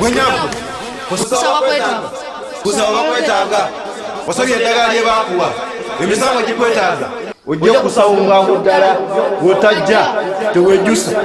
wenyaku kusaba kwetaaga kusaba bakwetaaga osabye eddagala lye baakuwa emisango gikwetaaga ojja kusawungako ddala wotajja tewejjusa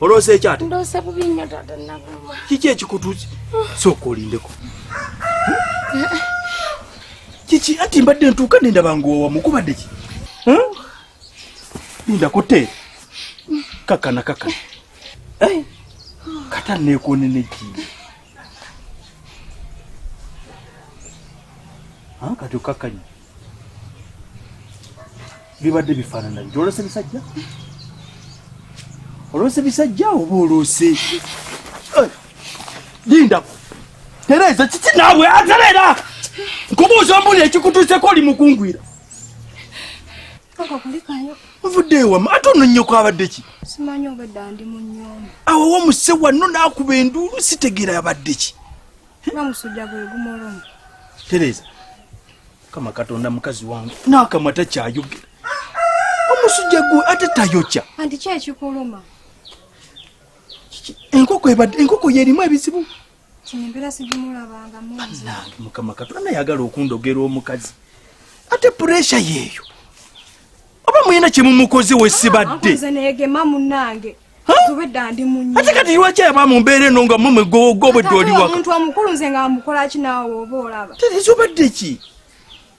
Oloose ki ate? Ndoose bubi nnyo taata Naguma. Kiki ekikutuusi? Sooka olindeko. Kiki ati mbadde ntuuka ne ndaba ng'owa mukubadde ki? Linda kutte. Kakana kakana. Kata neekoonene ki? Ah, kati okkakkanye bibadde bifaanana byo olose bisajja olose bisajja oba olose eh, lindako tereeza kiki naabwe atereera nkubuuza mbuli ekikutuuseko oli mukungwira ovudde ewama ate ono nnyoko abadde ki simanyi obadde ndi mu nyumba awo wamuse wanno n'akuba enduulu sitegeera abadde ki nga musujja gwe gumolomu tereeza kama katonda mukazi wange n'akamwa takyayogera omusujja gwe ate tayokya anti kyekikuluma enkoko ebadde enkoko yerimu ebizibu kino embeera sigimulabanga munange mukama katonda naye agala okundogera omukazi ate puresha yeeyo oba muyina kyemumukoze wesibadde ah, negema munange ate kati lwaki aba mu mbeera eno nga mumwe gobwedde oliwaka omuntu omukulu nze nga mukolaki naawe oba olaba terezo obadde ki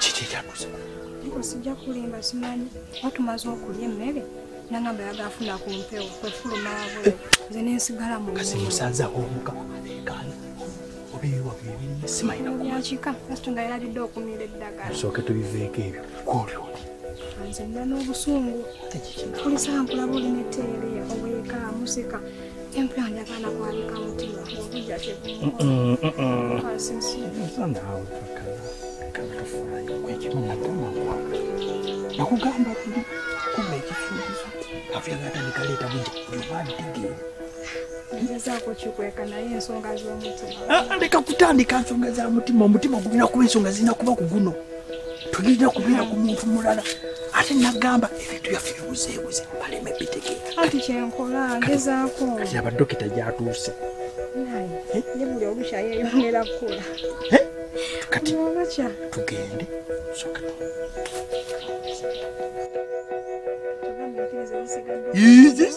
kiki ekyakuza nko sijja kulimba simanyi batumaze okulya emmere nangamba yagafuna ku mpewo kwefuluma wabweru nze nensigala mu kasi musanze awo omukama aleekaana obibiwabyakika kasito nga yalabidde okumira eddagala sooke tubiveeko ebyo kwolyo nze nda n'obusungu kulisankula buli neteereya obweka museka nakugamba tuli kumba ekifuukizo afyagata nikaleeta buja obabitegere leka kutandika nsonga za mutima omutima gulina kuba ensonga zirina kuba ku guno tulina kubeera ku muntu mulala ate nagamba ebintu byaffe bibuzeebuze baleme bitegeera kati kyenkola ngezaako kati abadokita gyatuuse ye buli obukya yeyongera kukula kati tugende soka Yiyis.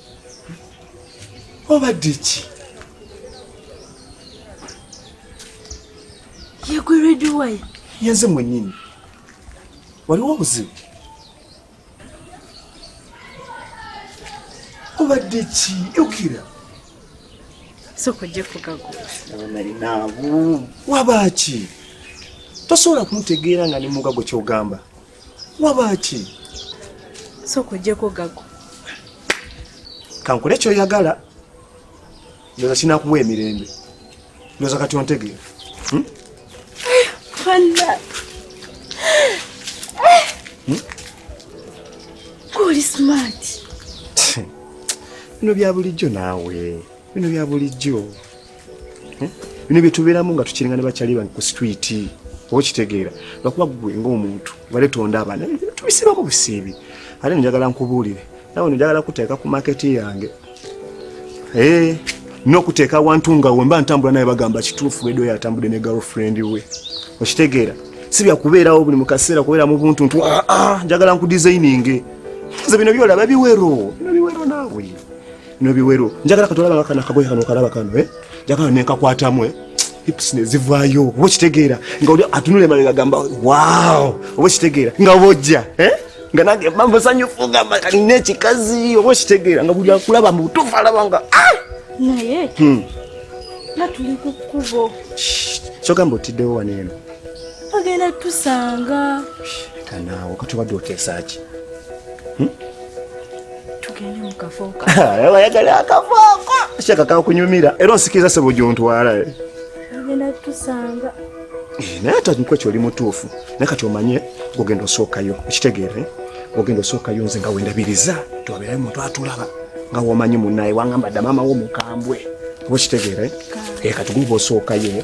obadde ki yegweredwayo yenze mwenyini waliwo obuzibu obadde ki yukira soko ojja kugagualinaabu wabaaki tosobola kuntegeera nga ne mugago kyogamba wabaaki sooka ojjeko gago kankole kyoyagala ndoza kinakuwa emirembe ndoza kati ontegeera hmm? hmm? bino bya bulijjo naawe bino bya bulijjo hmm? bino byetubeeramu nga tukiringa ne bakyali bange ku situiti oba okitegeera lwakuba gwe ngaomuntu bale tondaba naye tubisibamu busiibi ate njagala nkubuulire nawe njagala kuteeka ku maketi yange eh, n'okuteeka awantu nga wemba ntambula naye bagamba kituufu edo yatambudde ne girlfriend we okitegeera si byakubeerawo buli mukaseera kubeera mu buntu ntu ah, ah, njagala nkudisayininge nze bino byolaba biwero bino biwero naawe no biwero njagala katolaba nga kana kagoye kano kalaba kano eh njagala ne kakwatamwe eh? hips ne zivayo obo kitegeera nga oli atunule mali gagamba wow obo kitegeera nga bojja eh nga nange mambo sanyo funga mali ne kikazi obo kitegeera nga buli akulaba mu tufa alaba nga ah naye hmm na tuli ku kubo so gambo tide wa neno agenda tusanga kana wakati wa dote sachi hmm? tugende mu kafooko ayagala akafooko shaka kakunyumira era onsikiriza sebo gyontwala eh. agenda kutusanga eh, naye ate nku ekyo oli mutuufu naye kati omanye ogenda osookayo okitegeere ogenda osookayo nze nga wendabiriza tiwabeerayo omuntu atulaba nga womanyi munaye wangamba dda maama wo mukambwe oba okitegeere eh, kati guba osookayo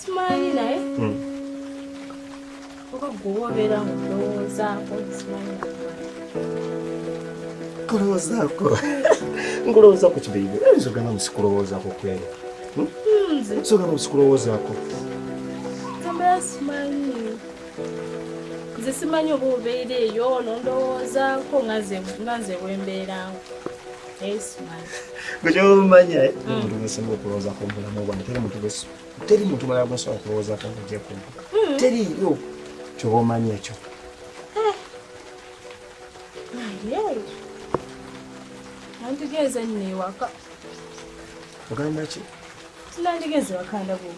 simanyi naye hmm. oba gwewobeera mu ndowoozaako simanyi kulowoozaako nkulowooza ku kibeibe nzo gamba musikulowoozaako kwere hmm? hmm, so gamba musikulowoozaako tambala simanyi nze simanyi oba obeera eyo nondowoozaako nga nze wembeerawo gwekyomanya eh? mm. omuntu gwesinga okulowooza ku bulamu bwange teri muntu teri muntu mulala gwesobola kulowoozako ngogya ku mm. teriyo kyoba omanyi ekyo eh. antugeeza nno ewaka ogamba ki Tunandigeze wakanda bwo.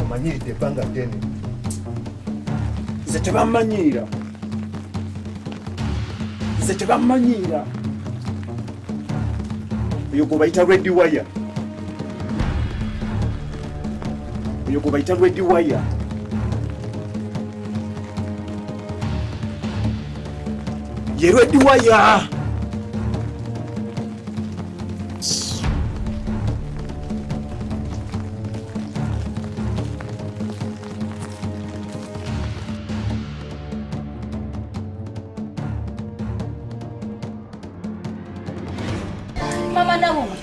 Omanyiridde ebbanga ddene. Nze tebammanyiira. Nze tebammanyiira. Oyo gwe bayita Red Wire. oyo gwebayita redi waya ye redi waya Mama nawe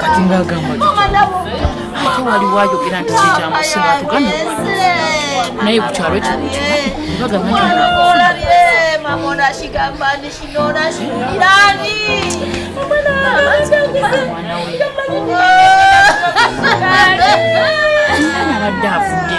kati ngagamba ate wali wayogera nti kikyamusima tugane naye kukyalo kinoaabadde avudde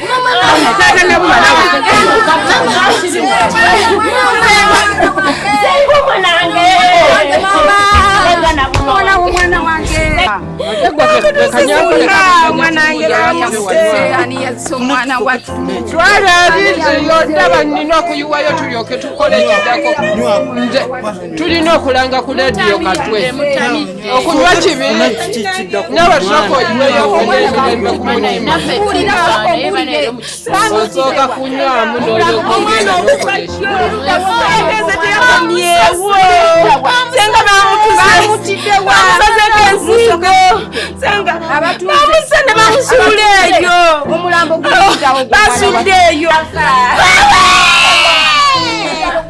twalabiriyo ndaba nina okuyiwayo tulyoke tukole ekidako tulina okulanga ku lediyo katwe okunywa kibi naba tunakoyiweyokunemirembe kumunaimaosooka kunywamu noyokunemirembeamusene bamusula eyo basudde eyo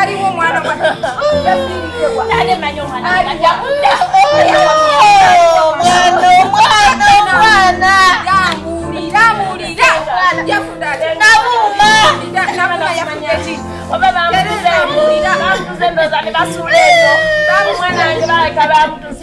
aliwo omwana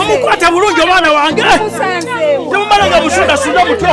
omukwata bulungi omwana wange temumala nga musundasunda mutyo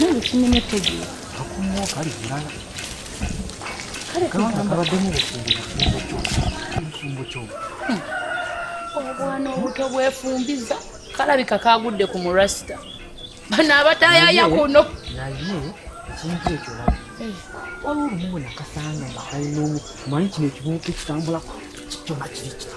Ntukimenye tegi. Akumu kali kulala. Kale kamba kabademu bufumbo bufumbo kyo. Bufumbo kyo. Hmm. Obwana obuto bwefumbiza kalabika kagudde ku murasita. Bano abatayaya kuno. Naye ekintu ekyo laba. Eh. Waliwo olumu nakasanga nga kalina omu manyi kino ekibuuka ekitambulako kyona kiri kiri.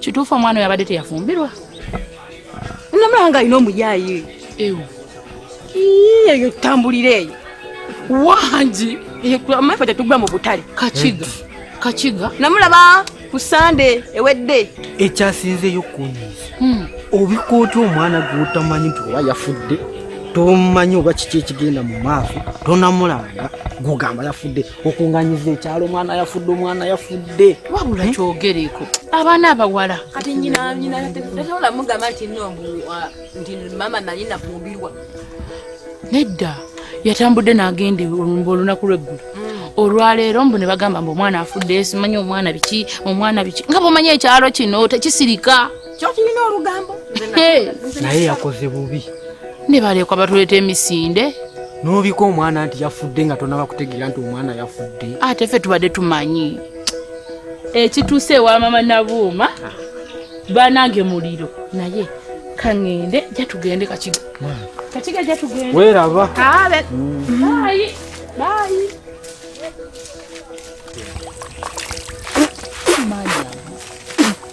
kituufu omwana oyo abadde teyafumbirwa namulaba nga alina omuyaayi ewo eyo tambulira eyo wangi amaife tetugwa mu butale kakiga kakiga namulaba ku sande ewedde ekyasinzeeyo kunyiiza hmm. obikooti omwana gwotamanyi nti oba yafudde tomanyi oba kiki ekigenda mu maaso tonamulanga gugamba yafudde okunganyiza ekyalo omwana yafudde omwana yafudde wabula eh? kyogereko abaana abawala kati nyinanyinaola mugamba nti no nti mama nali nafumbirwa nedda yatambudde nagenda olumba olunaku lweggulu mm. olwaleero mbu ne bagamba mbu omwana afudde simanyi omwana biki omwana biki nga bumanya ekyalo kino tekisirika kyokirina olugambo naye yakoze bubi nebalekwa batuleeta emisinde nobika omwana nti yafudde nga tonaba kutegeera nti omwana yafudde ate ffe tubadde tumanyi ekituuse ewa mama nabuuma ah. banange muliro naye kaŋende jatugende kakiga kakiga jatugende weraba abe bayi bayi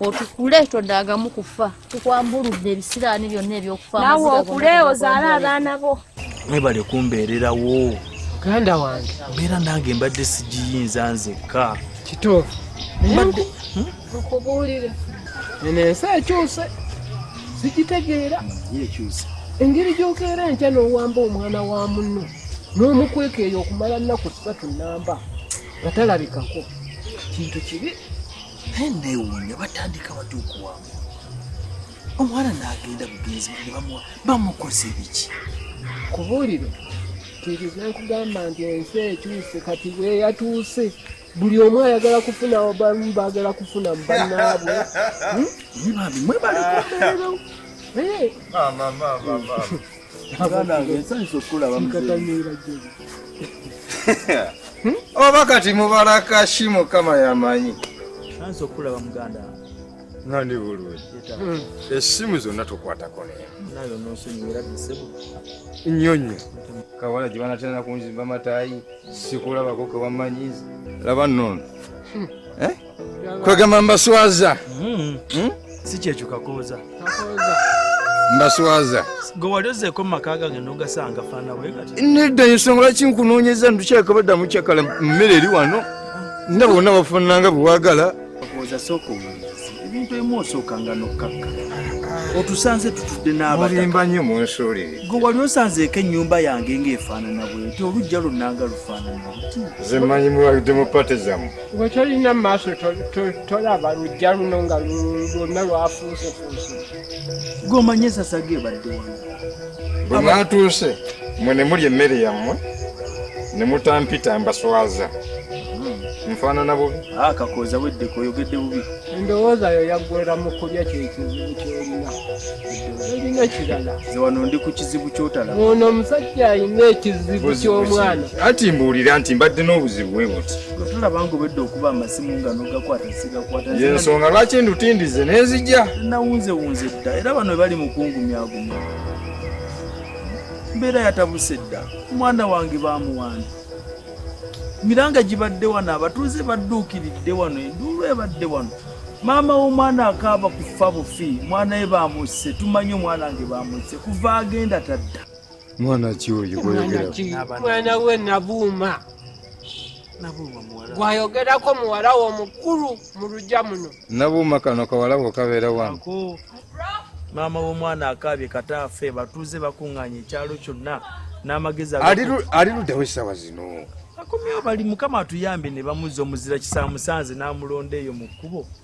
otukule todagamu kufa tukwambuludde ebisiraani byonna ebyokufa nawe okule ozaale abaana bo mwebale kumbeererawo muganda wange mbeera nange mbadde sigiyinza nzekka kituufu mbadde hmm? nkubuulire eno ensi ekyuse sigitegeera engeri gyokeera enkya n'owamba omwana wa munno n'omukweka eyo okumala nnaku ssatu nnamba nga talabikako kintu kibi newuunya batandika batya okuwamba omuwala nagenda bugenzi bwe bamuwa bamukoze ebiki kubuuliro kiriza nkugamba nti ensi ekyuse kati bweyatuuse buli omu ayagala kufuna bamu bagala kufuna mubanaabwe hmm? mwebale kumbeerero eh. oba kati mubala kashi mukama yamanyi nsanze okulaba muganda nga ndi bulungi hmm. esimu zonna tukwatako nayo nosonyiwera disebo nnyo nnyo kawala gye banatera kunzimba matayi sikulabako kewamanyizi laba nono hmm. eh? kwegamba mbaswaza hmm. hmm? si kyekyo kakooza mbaswaza gwe wali ozeeko mu maka gange nogasanga faana bwegati nedda ensonga lwaki nkunoonyeza ndukyaka baddamu kyakala mmere eri wano nda bonna bafaananga bwewagala kakooza sooka omulizi ebintu emu osookanga nokkakka otusanze tutudde n'abalimba nnyo mu nsuuli gwe wali osanzeeko ennyumba yange ng'efaanana bwenti olujja lunnanga lufaanana luti ze mmanyi muwalidde mu pate zammwe gwe tolina mu maaso tolaba lujja luno nga lwonna lwafuusefuuse gwe omanye esasaga ebadde wano bwe mwatuuse mwe ne muli emmere yammwe ne mutampita mbaswaza hmm. nfaanana bubi ah, kakooza weddeko oyogedde bubi endowooza yo yaggwera mu kulya kyekizibu kyolina olina kirala ze wano ndi ku kizibu kyotala ono omusajja alina ekizibu ky'omwana anti mbuulira nti mbadde n'obuzibu bwe buti tulaba nga obedde okuba amasimu nga nogakwata sigakwata yensonga lwaki ndutindize nenzija nawunzewunze dda era bano bali mukungumyagumya mbeera yatabuse dda omwana wange bamuwanda miranga gibadde wano abatuuze badduukiridde wano enduulu ebadde wano maama w'omwana akaaba kufa bufi mwana we bamusse tumanyi omwana wange bamusse kuva agenda tadda mwana ki oyo mwana we nabuuma gwayogerako muwala wo mukulu mu lugya muno nabuuma kano kawala ko kabeera wano maama w'omwana akaabye kataafe batuuze bakuŋŋaanya ekyalo kyonna n'amagezi ali luddawo essaawa zino akomyewo bali mukama atuyambe ne bamuzza omuzira kisamusanze n'amulonda eyo mu kkubo